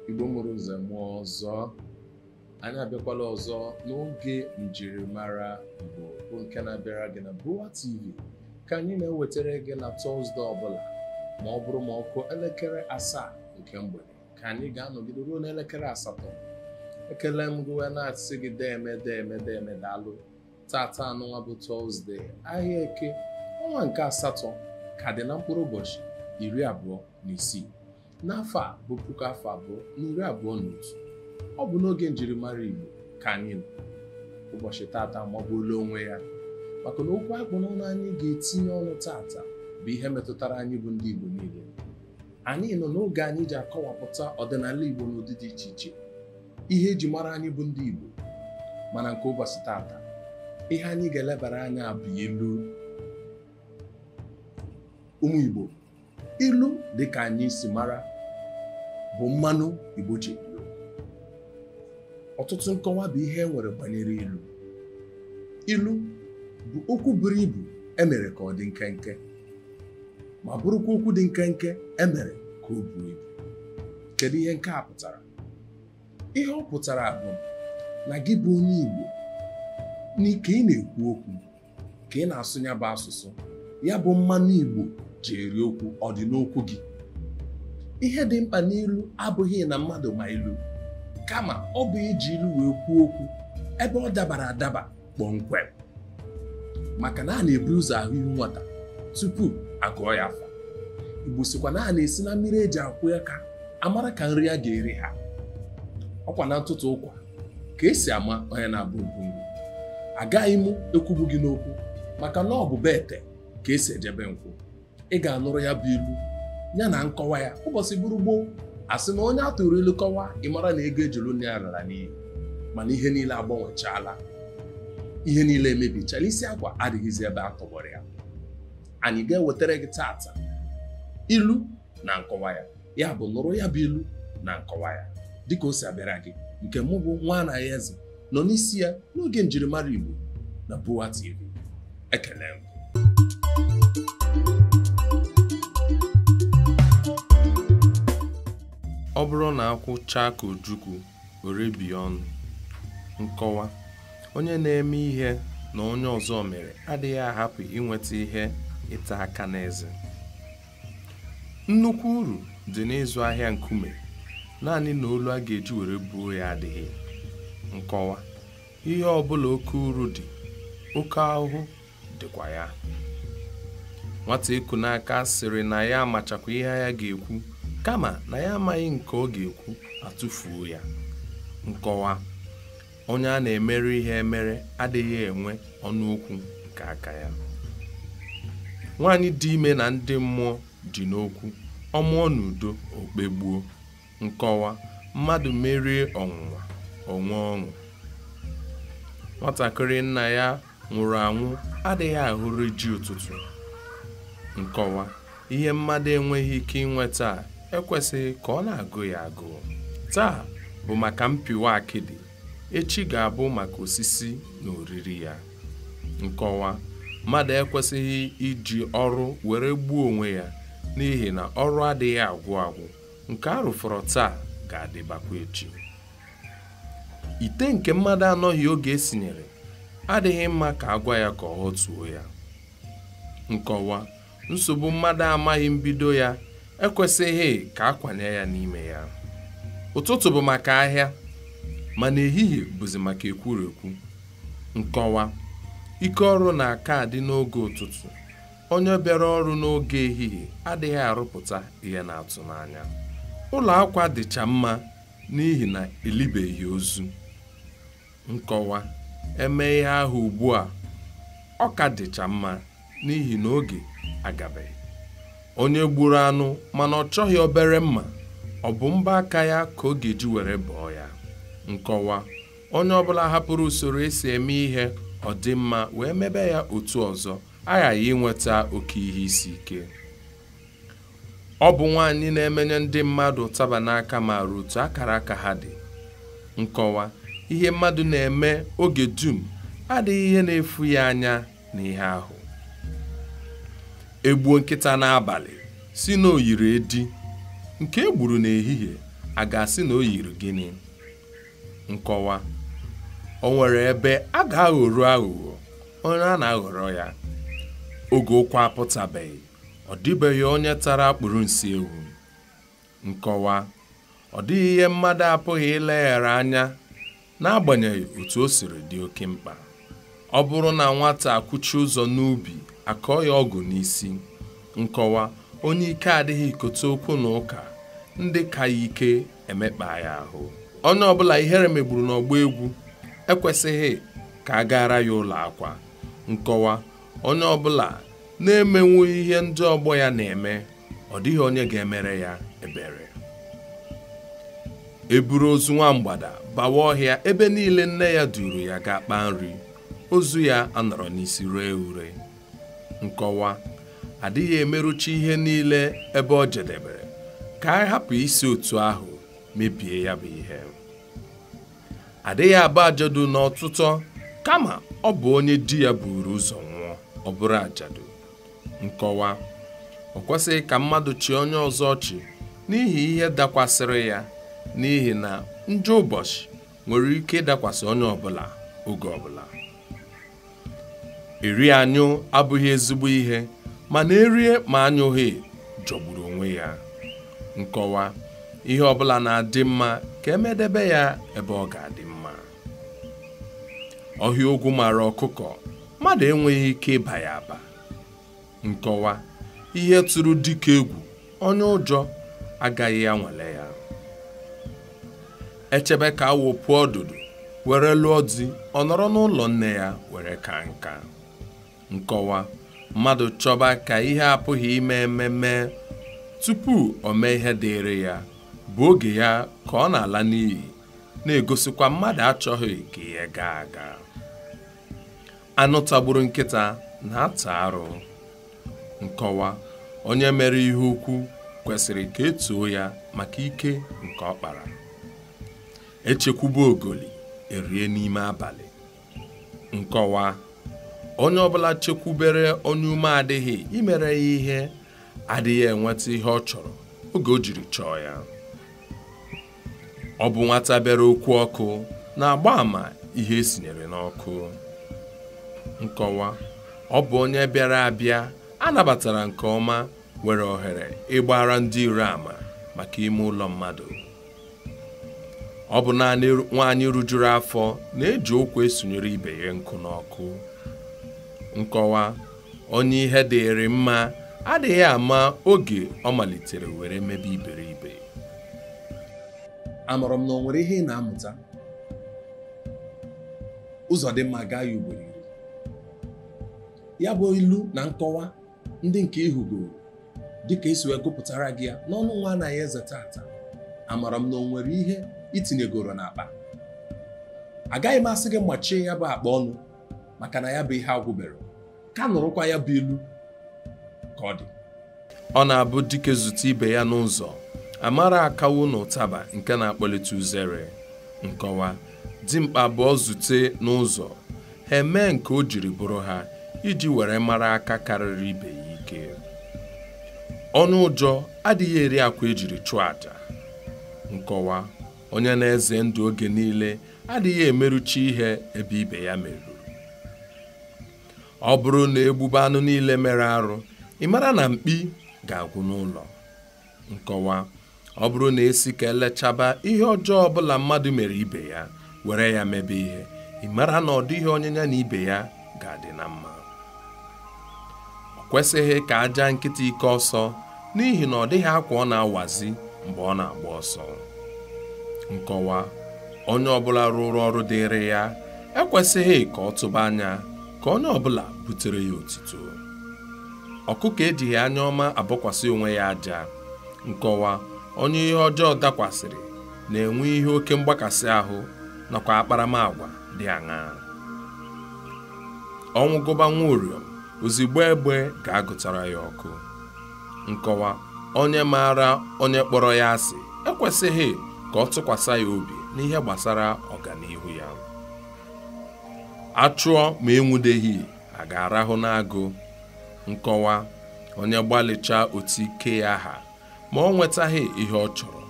igbo mụrụ nze mụọ ọzọ anyị abịakwala ọzọ n'oge njirimara igbo bụ nke na-abịara gị na BUA TV ka anyị na-ewetara gị na tọzde ọbụla ma ọ bụrụ ma ọ kụọ elekere asaa nke mgbede ka anyị ga-anọgide ruo n'elekere asatọ ekele m gị wee na-asị gị deeme deeme deeme daalụ tata anụnwa bụ tọzde ahịa eke ọnwa nke asatọ ka dị na mkpụrụ ụbọchị iri abụọ na isii n'afọ a bụ puku afọ abụọ na iri abụọ na otu ọ bụ n'oge njirimara Igbo ka anyị nọ ụbọchị tata amagbuola onwe ya maka na okwu a kpụ n'ọnụ anyị ga-etinye ọnụ tata bụ ihe metụtara anyị bụ ndị Igbo niile anyị nọ n'oge anyị ji akọwapụta ọdịnala Igbo n'ụdị dị iche iche ihe e ji mara anyị bụ ndị Igbo mana nke ụbọchị tata ihe anyị ga-elebara anya bụ ilu ụmụ Igbo ilu dị ka anyị si mara bụ mmanụ Igbo ji eri okwu ọtụtụ nkọwa bụ ihe e nwere banyere ilu ilu bụ okwu buru ibu e mere ka ọ dị nkenke ma bụrụkwa okwu dị nkenke e mere ka o buo ibu kedu ihe nke a pụtara ihe ọ pụtara bụ na gị bụ onye Igbo n'ike ị na-ekwu okwu ka ị na-asụ ya bụ asụsụ ya bụ mmanụ Igbo ji eri okwu ọ dị n'okwu gị ihe dị mkpa n'ilu abụghị na mmadụ ma ilu kama ọ bụ iji ilu wee kwuo okwu ebe ọ dabara adaba kpọmkwem maka na a na-ebu ụzọ ahụ ihu nwata tupu agụọ ya afa igbo sịkwa na a na-esi na mmiri e ji akwọ aka amara ka nri a ga-eri ha ọkwa na ntụtụ ụkwa ka e si ama onye na-abụ nri agaghị m ekwugbu gị n'okwu maka na ọ bụ be ete ka e si eje be nkwụ ị ga-anụrụ ya bụ ilu ya na nkọwa ya ụbọchị bụrụ gboo a sị na onye a tụụrụ ilu kọwaa ị mara na ego e ji lụ nne ya lara n'iyi mana ihe niile agbanwechaala ihe niile emebichala isi akwa adịghịzi ebe a tọgbọrọ ya anyị ga-ewetara gị tata ilu na nkọwa ya ya bụ nụrụ ya bụ ilu na nkọwa ya dịka o si abịara gị nke mụ bụ nwa Anayọ Eze nọ n'isi ya n'oge njirimara Igbo na BUA TV ekele m ọ bụrụ na akwụ chaa ka ojukwu were bie ọnụ nkọwa onye na-eme ihe na onye ọzọ mere adịghị ahapụ inweta ihe ịta aka n'eze nnukwu uru dị n'ịzụ ahịa nkume naanị na olu a ga-eji were buo ya adịghị nkọwa ihe ọbụla oke uru dị oke ahụhụ dịkwa ya nwata eku n'aka sịrị na ya amachakwa ihe ya ga-ekwu kama na ya amaghị nke ọ ga-ekwu atụfuo ya nkọwa onye a na-emere ihe emere adịghị enwe ọnụ okwu nke aka ya nwaanyị dị ime na ndị mmụọ dị n'okwu ọ mụọ n'udo o kpegbuo nkọwa mmadụ merie ọnwụnwa o nwee ọṅụ nwatakịrị nna ya nwụrụ anwụ adịghị ahụrụ ji ụtụtụ nkọwa ihe mmadụ enweghị ike inweta ekwesịghị ka ọ na-agụ ya agụụ taa bụ maka mpịwa akịdị echi ga-abụ maka osisi na oriri ya nkọwa mmadụ ekwesịghị iji ọrụ were gbuo onwe ya n'ihi na ọrụ adịghị agwụ agwụ nke a rụfọrọ taa ga-adịbakwa echi ite nke mmadụ anọghị oge esinyere adịghị mma ka a gwa ya ka ọ ghọtuo ya nkọwa nsogbu mmadụ amaghị mbido ya ekwesịghị ka a kwanye ya n'ime ya ụtụtụ bụ maka ahịa mana ehihie bụzi maka ekwurekwu nkọwa ike ọrụ na-aka adị n'oge ụtụtụ onye bịara ọrụ n'oge ehihie adịghị arụpụta ihe na-atụ n'anya ụlọ akwa dịcha mma n'ihi na elibeghị ozu nkọwa eme ihe ahụ ugbu a ọ ka dịcha mma n'ihi na oge agabeghị onye gburu anụ mana ọ chọghị obere mma ọ bụ mbọ aka ya ka ọ ga-eji were bọọ ya nkọwa onye ọbụla hapụrụ usoro esi eme ihe ọ dị mma wee mebe ya otu ọzọ aghaghị inweta oke ihe isi ike Ọ bụ nwaanyị na-emenye ndị mmadụ ụtaba n'aka maara otu akara aka ha dị. Nkọwa, Ihe mmadụ na-eme oge dum adịghị ihe na-efu ya anya na ihe ahụ. E gbuo nkịta n'abalị sị na o yiri edi, nke e gburu n'ehihie a ga-asị na o yiri gịnị? Nkọwa, O nwere ebe a ga-aghọru aghụghọ onye a na-aghọrọ ya oge ụkwa apụtabeghị. ọ dịbeghị onye tara akpụrụ nsị ewu nkọwa ọ dịghị ihe mmadụ apụghị ileghara anya n'agbanyeghị otu o siri dị oke mkpa ọ bụrụ na nwata akwụchi ụzọ n'ubi a kọọ ya ọgụ n'isi nkọwa onye ike adịghị ikote okwu na ụka ndị ka ya ike emekpaa ya ahụ onye ọbụla ihere megburu n'ọgbọ egwu ekwesịghị ka a gaara ya ụlọ akwa nkọwa onye ọbụla na-emenwu ihe ndị ọgbọ ya na-eme ọ dịghị onye ga-emere ya ebere eburu ozu nwa mgbada bawa ọhịa ebe niile nne ya duru ya gaa kpaa nri ozu ya anọrọ n'isi ree ure nkọwa adịghị emerucha ihe niile ebe o jedebere ka anyị hapụ isi otu ahụ mebie ya bụ ihe adịghị aba ajadu n'ọtụtụ kama ọ bụ onye di ya buru ụzọ nwụọ ọ bụrụ ajadu nkọwa o kwesịghị ka mmadụ chịa onye ọzọ ọchị n'ihi ihe dakwasịrị ya n'ihi na njọ ụbọchị nwere ike ịdakwasị onye ọbụla oge ọbụla eri anyụ abụghị ezigbo ihe mana erie ma anyụghị jọgburu onwe ya nkọwa ihe ọbụla na-adị mma ka emedebe ya ebe ọ ga-adị mma ọhịa ogwu mara ọkụkọ mmadụ enweghị ike ịba ya aba nkọwa ihe tụrụ dike egwu onye ụjọ agaghị anwale ya echebe ka awọ puo ọdụdụ were lụọ di ọ nọrọ n'ụlọ nne ya were kaa nka nkọwa mmadụ chọba ka ihe apụghị ime eme mee tupu o mee ihe dịịrị ya bụ oge ya ka ọ na-ala n'iyi na-egosikwa mmadụ achọghị ka ihe gaa aga anụ tagburu nkịta na-ata arụ nkọwa onye mere ihe ukwu kwesịrị ka etoo ya maka ike nke ọ kpara echekwube ogoli erie n'ime abalị nkọwa onye ọbụla chekwubere onye ume adịghị imere ya ihe adịghị enweta ihe ọ chọrọ oge o jiri chọọ ya ọ bụ nwata bịara okwu ọkụ na-agba ama ihe esinyere n'ọkụ nkọwa ọ bụ onye bịara abịa a nabatara nke ọma nwere ohere ịgbara ndị iro ama maka ime ụlọ mmadụ ọ bụ naanị nwaanyị rujuru afọ na-eji ụkwụ esonyere ibe ya nkụ n'ọkụ nkọwa onye ihe dịịrị mma adịghị ama oge ọ malitere were mebe iberibe amara m na o nwere ihe ị na-amụta ụzọ dị mma gaa ya ugboro iri ya bụ ilu na nkọwa ndị nke ị hụgoro dịka esi wee gụpụtara gị ya n'ọnụ nwaanyị eze tata amara m na o nwere ihe itinyegoro n'akpa agaghị m asị gị machie ya bụ akpa ọnụ maka na ya bụ ihe agwụberọ ka nụrụkwa ya bụ ilu ka ọ dị ọ na-abụ dike zute ibe ya n'ụzọ amara akanwụ na ụtaba nke na-akpọlite uzere nkọwa dimkpa abụọ zute n'ụzọ ha emee nke o jiri bụrụ ha iji were mara aka karịrị ibe ya ike onye ụjọ adịghị eri akwa ejiri chụọ aja nkọwa onye na-eze ndụ oge niile adịghị emerucha ihe ebe ibe ya meruru ọ bụrụ na egbube anụ niile mere arụ ị mara na mkpi ga-agwụ n'ụlọ nkọwa ọ bụrụ na esi ka elechaba ihe ọjọọ ọbụla mmadụ mere ibe ya were ya mebe ihe ị mara na ọ dịghị onye ya na ibe ya ga-adị na mma o kwesịghị ka a jaa nkịta ike ọsọ n'ihi na ọ dịghị akwa ọ na-awazi mgbe ọ na-agba ọsọ nkọwa onye ọbụla rụrụ ọrụ dịịrị ya ekwesịghị ka ọ tụba anya ka onye ọbụla butere ya otito ọkụkọ ejighị anya ọma abọkwasị onwe ya aja nkọwa onye ihe ọjọọ dakwasịrị na-enwe ihe oke mgbakasị ahụ nakwa akparamagwa dị aṅaa ọnwụ gụba nwa uriom ozigbo egbe ga-agụtara ya ọkụ nkọwa onye maara onye kpọrọ ya asị ekwesịghị ka ọ tụkwasị ya obi n'ihe gbasara ọganihu ya achụọ ma enwudeghị a ga-arahụ n'agụ nkọwa onye gbalịchaa otu ike ya ha ma o nwetaghị ihe ọ chọrọ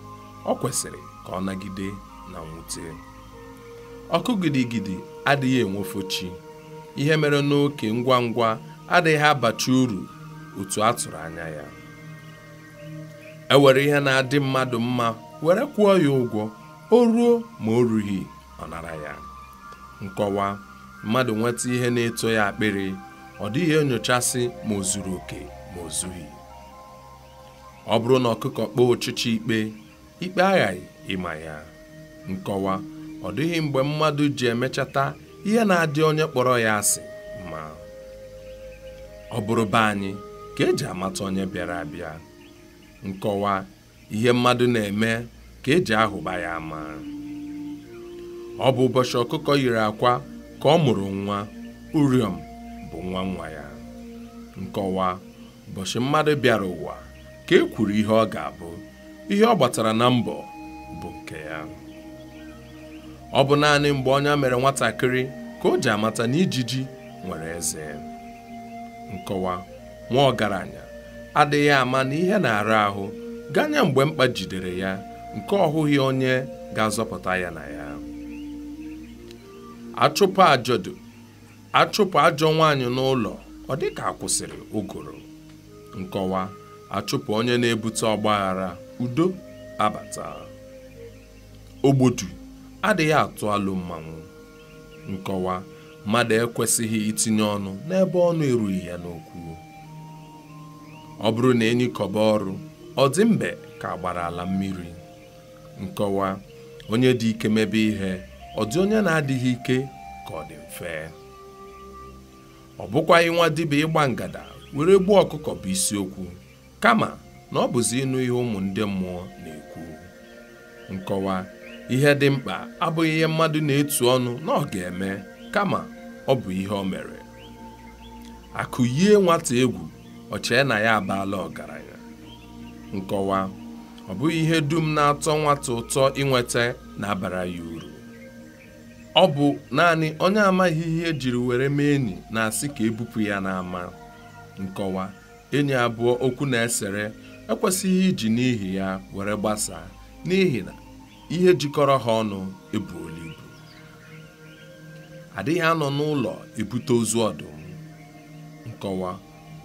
o kwesịrị ka ọ nagide na mwute ọkụ gidigidi adịghị enwufo chi ihe e mere n'oke ngwa ngwa adịghị abacha uru otu a tụrụ anya ya e were ihe na-adị mmadụ mma were kwụọ ya ụgwọ o ruo ma o rughị ọ nara ya nkọwa mmadụ nweta ihe na-eto ya akpịrị ọ dịghị enyochasị ma o zuru oke ma o zughị ọ bụrụ na ọkụkọ kpọọ ọchịcha ikpe ikpe aghaghị ịma ya nkọwa ọ dịghị mgbe mmadụ ji emechata ihe na-adị onye kpọrọ ya asị mma ọ bụrụ be anyị ka eji amata onye bịara abịa nkọwa ihe mmadụ na-eme ka eji ahụba ya ama ọ bụ ụbọchị ọkụkọ yiri akwa ka ọ mụrụ nwa uriom bụ nwa nwa ya nkọwa ụbọchị mmadụ bịara ụwa ka e kwuru ihe ọ ga-abụ ihe ọ gbatara na mbọ bụ nke ya ọ bụ naanị mgbe ọnya mere nwatakịrị ka o ji amata na ijiji nwere eze nkọwa nwa ọgaranya adịghị ama na ihe na-ara ahụ ganye mgbe mkpa jidere ya nke ọ hụghị onye ga-azọpụta ya na ya achụpụ ajọdu a chụpụ ajọ nwaanyị n'ụlọ ọ dị ka a kwụsịrị ụgụrụ nkọwa a chụpụ onye na-ebute ọgbaghara udo abata ogbodu adịghị atụ alụ mmanwụ nkọwa mmadụ ekwesịghị itinye ọnụ n'ebe ọnụ erughị ya n'okwu ọ bụrụ na enyi kọba ọrụ ọ dị mbe ka a gbara ala mmiri nkọwa onye dị ike mebe ihe ọ dị onye na-adịghị ike ka ọ dị mfe ọ bụkwaghị nwa dibịa ịgba ngada were gbuo ọkụkọ bụ isiokwu kama na ọ bụzi ịnụ ihe ụmụ ndị mmụọ na-ekwu nkọwa ihe dị mkpa abụghị ihe mmadụ na-etu ọnụ na ọ ga-eme kama ọ bụ ihe o mere akụ yie nwata egwu ọ chee na ya abaala ọgaranya nkọwa ọ bụghị ihe dum na-atọ nwata ụtọ inweta na-abara ya uru ọ bụ naanị onye amaghị ihe e jiri were mee enyi na-asị ka e bupụ ya n'ama nkọwa enyi abụọ okwu na-esere ekwesịghị iji n'ihi ya were gbasaa n'ihi na ihe jikọrọ ha ọnụ ebuola ibu a dịghị anọ n'ụlọ ebute ozu ọdụm nkọwa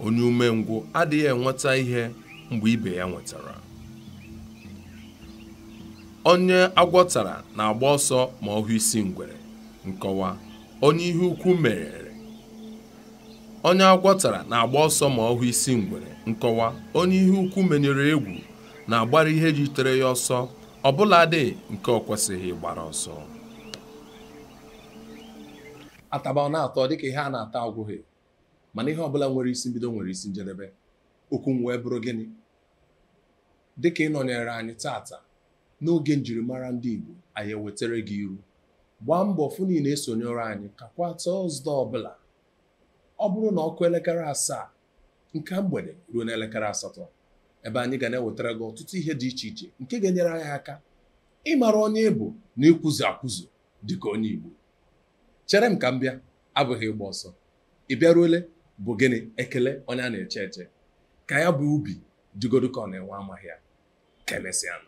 onye umengwụ adịghị enweta ihe mgbe ibe ya nwetara onye agwọ tara na-agba ọsọ ma ọ hụ isi ngwere nkọwa onye ihe ukwu merere onye agwọ tara na-agba ọsọ ma ọ hụ isi ngwere nkọwa onye ihe ukwu menyere egwu na-agbara ihe yitere ya ọsọ ọbụladị nke ọ kwesịghị ịgbara ọsọ a taba ọ na-atọ dịka ihe a na-ata agwụghị mana ihe ọbụla nwere isi mbido nwere isi njedebe okwu m wee bụrụ gịnị dịka ị nọnyere anyị tata n'oge njirimara ndị Igbo anyị ewetara gị ilu gbaa mbọ fụ na ị na-esonyere anyị ka kwa tọzde ọbụla ọ bụrụ na ọ kụọ elekere asaa nke mgbede ruo n'elekere asatọ ebe anyị ga na-ewetara gị ọtụtụ ihe dị iche iche nke ga-enyere anyị aka ịmara onye ị bụ na ịkwụzi akwụzi dịka onye Igbo chere m ka m bịa abụghị ịgba ọsọ ị bịaruole bụ gịnị ekele onye a na-eche eche ka ya bụ ubi dịgodị ka ọ na-enwe amaghị ya ka e mesịa nụ.